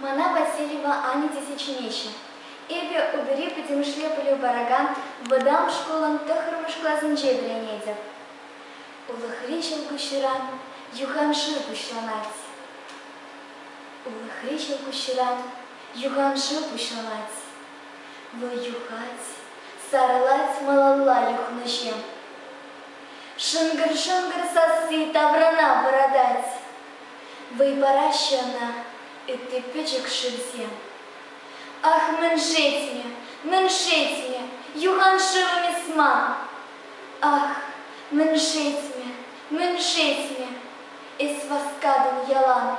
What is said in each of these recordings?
Мана Васильева Аня тесе чӗнеҫҫӗ. Эпӗ утӑри пӗтӗмӗшле пӗлӳ паракан вӑтам шкулӑн тӑххӑрмӗш класӗнче вӗренетӗп. Улӑхри ҫӑлкуҫран юханшыв пуҫланать. Улӑхри ҫӑлкуҫран юханшыв пуҫланать. Вӑл юхать, сарӑлать малалла юхнӑҫем. Шӑнкӑр-шӑнкӑр сасси таврана вӑратать. Вӑй параҫҫӗ ӑна ытти пӗчӗк шывсем. Ах, мӗн шетмӗ, мӗн шетмӗ, юхан шывӑм эс ман. Ах, мӗн шетмӗ, мӗн шетмӗ, эс васкатӑн ялан.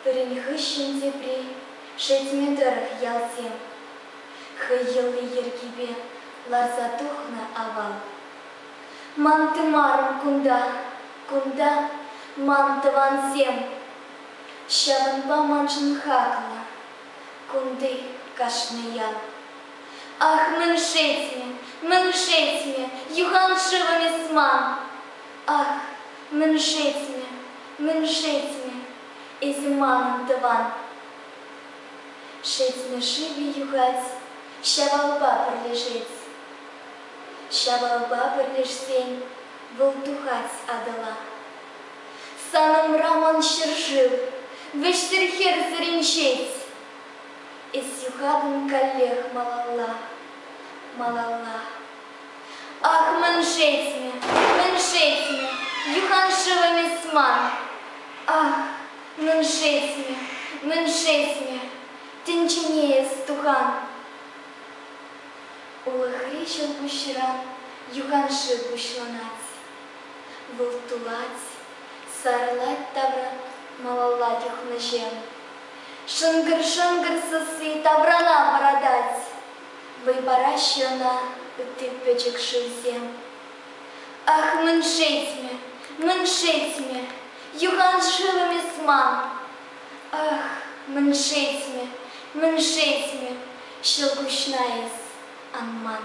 Пӗрин хыҫҫӑн тепри шетме тӑрӑх ялсем. хӑй йӑли-йӗркипе ларса тухнӑ авал. Мантымарӑм кунта, кунта ман тӑвансем, ҫавӑнпа маншӑн хаклӑ кунти кашни ял. Ах, мӗн шетмӗ, мӗн шетмӗ, юхан шывӑм эс ман. Ах, мӗн шетмӗ, мӗн шетмӗ, эсӗ манӑн тӑван. Шетмӗ шывӗ юхать, Ҫавалпа пӗрлешет. Ҫавалпа пӗрлешсен Вӑл тухать Атӑла. Санӑмра ман ҫӗршыв Вӗҫсӗр хӗрсӗр инҫет. Эс юхатӑн каллех малалла, малалла. Ах, мӗншетмӗ, мӗншетмӗ, юхан шывӑм эс ман? Ах, Мӗншесне, мӗншесне, тӗнчене эс тухан? Улӑхри ҫӑлкуҫран юханшыв пуҫланать. Вӑл тулать, сарӑлать тавра малалла юхнӑҫем. Шӑнкӑр-шӑнкӑр сасси таврана вӑратать. Вӑй параҫҫӗ ӑна ытти пӗчӗк шывсем. Ах, мӗн шетмӗ, мӗн шетмӗ, юхан шывӑм эс ман. Ах, мӗн шетмӗ, мӗн шетмӗ, ҫӑлкуҫна эс ан ман.